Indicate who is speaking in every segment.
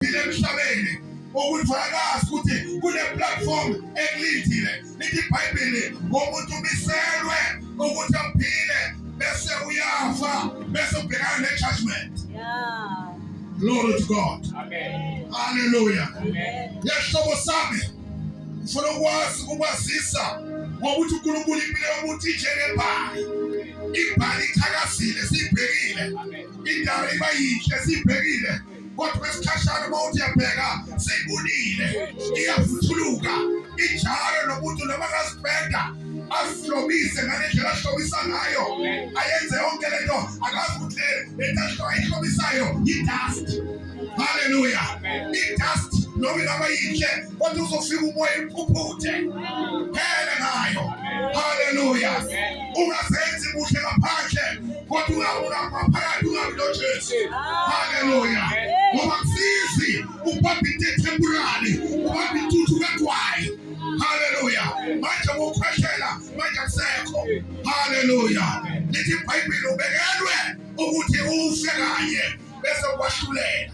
Speaker 1: okuthile emhlabeni ukuthi wakazi ukuthi kune-platform ekulindile lithi ibhayibheli ngomuntu umiselwe ukuthi aphile bese uyafa bese ubhekana ne-judgment yeah. glory to god Amen. haleluya yehlobo sami ngifuna ukwazi ukwazisa ngokuthi uNkulunkulu impilo yomuntu injengebhali ibhali ithakazile siyibhekile indawo iba yinhle siyibhekile kodwa isikhashana uma uthi yabheka seyibunile iyavuthuluka injalo nomuntu noma kazipenda azihlobise ngale ndlela ahlobisa ngayo ayenze yonke le nto akazi ukuthi le nto ayihlobisayo yidust haleluya idust noma ingaba yinhle kodwa uzofika umoya iphuphuthe phele ngayo haleluya ungazenzi kuhle ngaphandle kodwa ungaphakathi ungabi nojesu haleluya ngoba kusizi ubamba into ethempurali ubamba intuthu kagwayi haleluya manje wokhwehlela manje akusekho haleluya lithi ibhayibhile ubekelwe ukuthi ufe kanye bese kwahlulela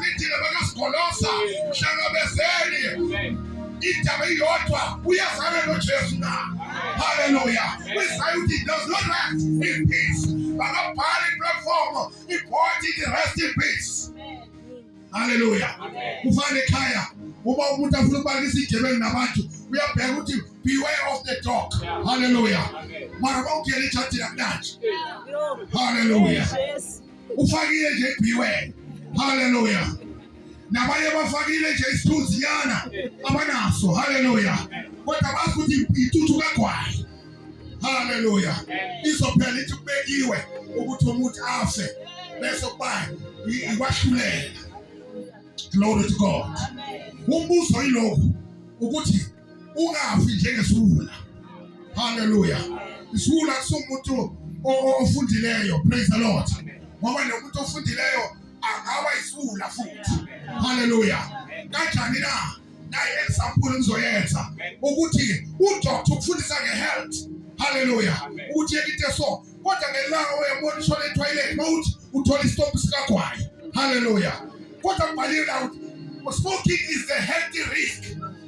Speaker 1: Nithina bakasigolosa mhlangabezeni indaba iyodwa uyazana noJesu na haleluya kwisayo ukuthi does not rest in peace bakabhala iplatform ibhodi ithi rest in peace haleluya kufana ekhaya uma umuntu afuna ukubalisa igebeni nabantu uyabheka ukuthi beware of the dog haleluya mara bawugela ejadini akunanje haleluya ufakile nje biwe haleluya nabanye bafakile nje isithunzi nyana abanaso haleluya kodwa bazi ukuthi intuthu kagwayi haleluya izophela ithi kubekiwe ukuthi umuntu afe bese kuba ikwahlulela glory to god umbuzo yilokhu ukuthi ungafi njengesiwula. Haleluya. Isiwula kusumuntu ofundileyo. Praise the Lord. Ngoba nomuntu ofundileyo angaba isiwula futhi. Haleluya. Kanjani na? Naye example ngizoyenza ukuthi udoctor ukufundisa ngehealth. Haleluya. Ukuthi yekinte so kodwa ngelanga uyabona ishona etoilet mawuthi uthola isitobhu sikagwayi. Haleluya. Kodwa kubhaliwe la ukuthi smoking is the healthy risk.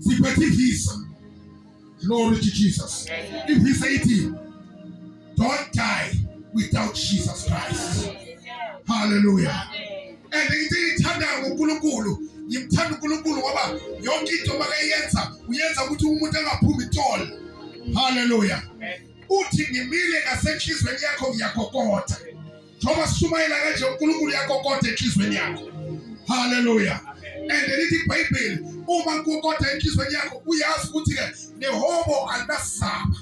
Speaker 1: siphethe ivisa glory to jesus ivisa ithi don't die without jesus christ hallelujah and into engiyithandayo ngonkulunkulu ngimthanda unkulunkulu ngoba yonke into makayenza uyenza ukuthi umuntu angaphumi itolo haleluya uthi ngimile ngasenhlizweni yakho ngiyakokotha njengoba sishumayela kanje uNkulunkulu uyakokota enhlizweni yakho haleluya and lithi ibhayibheli uma kukokota enhlizweni yakho uyazi ukuthi ke nehobo alinasaba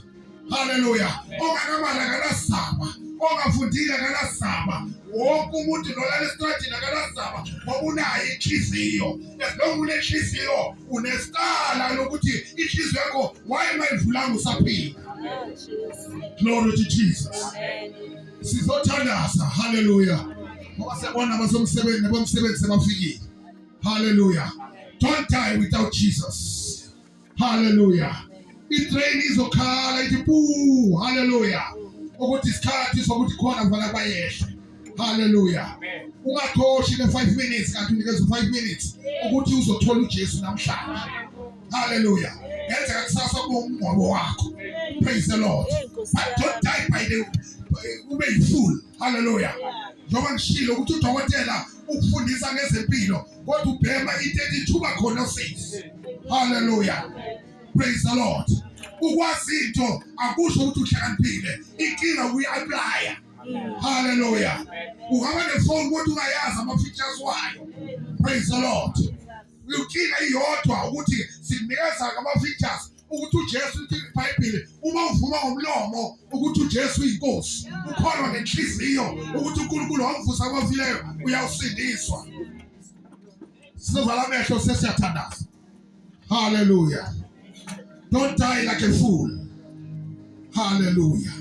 Speaker 1: haleluya onganamali akanasaba ongafundile akanasaba wonke umuntu nolala esitradini akanasaba ngoba unayo inhliziyo esilonga unenhliziyo unesikala lokuthi inhliziyo yakho wayengayivulanga usaphila glory to jesus Amen. sizothandaza haleluya ngoba siyabona abasomsebenzi nabomsebenzi sebafikile haleluya don't die without jesus haleluya itrain izokhala ithi pu haleluya ukuthi isikhathi sokuthi khona kufanele bayehle haleluya ungakhoshi ne-five minutes kanti unikeza u-five minutes ukuthi uzothola ujesu namhlanje Hallelujah. Yenza kakusasa kube umngcwabo wakho. Praise the Lord. But don't die by the ube yifool. Hallelujah. Njengoba ngishilo ukuthi udokotela ukufundisa ngezempilo kodwa ubhema into ethuba khona sisi. Hallelujah. Praise the Lord. Ukwazi into akusho ukuthi uhlakaniphile. Inkinga uyi-applya. Hallelujah. Ungaba nefoni kodwa ungayazi ama-features wayo. Praise the Lord. Inkinga iyodwa ukuthi sikunikeza ngama-features ukuthi uJesu iBhayibheli uma uvuma ngomlomo ukuthi uJesu uyinkosi ukholwa ngenhliziyo ukuthi uNkulunkulu wamvusa kwafileyo uyawusindiswa sizovala amehlo sesiyathandaza haleluya Don't die like a fool. Hallelujah.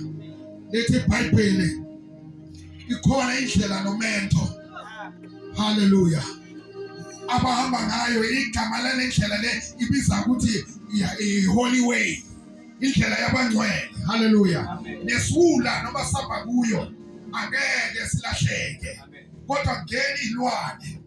Speaker 1: Lithi iBhayibheli ikhona indlela nomento. Hallelujah. Abahamba ngayo igama lendlela le ibiza ukuthi i-holy way. Indlela yabangcwele. Hallelujah. Nesula noma saba kuyo angeke silahleke. Kodwa ngeke ilwane.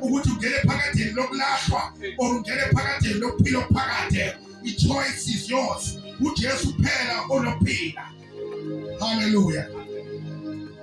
Speaker 1: ukuthi ungene phakatheni lokulahlwa or ungene phakatheni lokuphila okuphakade i-choice is yours ujesu kuphela onophila haleluya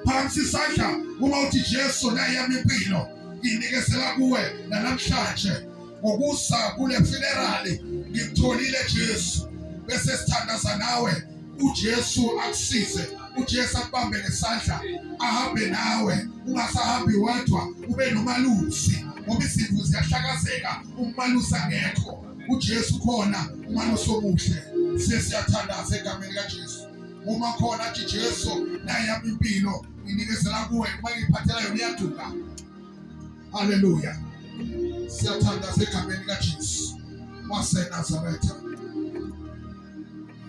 Speaker 1: phansi isandla uma uthi jesu nayami impilo nginikezela kuwe nanamhlanje ngokusa kule funerali ngimtholile jesu bese sithandaza nawe uJesu akusize uJesu akubambe ngesandla ahambe nawe ungasahambi wedwa ube nomalusi ngoba izimvu ziyahlakazeka umalusi angekho uJesu khona umalusi omuhle sesiyathandaza egameni kaJesu uma khona athi Jesu naye yami impilo nginikezela kuwe uma ngiphathela yona iyaduka haleluya siyathandaza egameni kaJesu waseNazaretha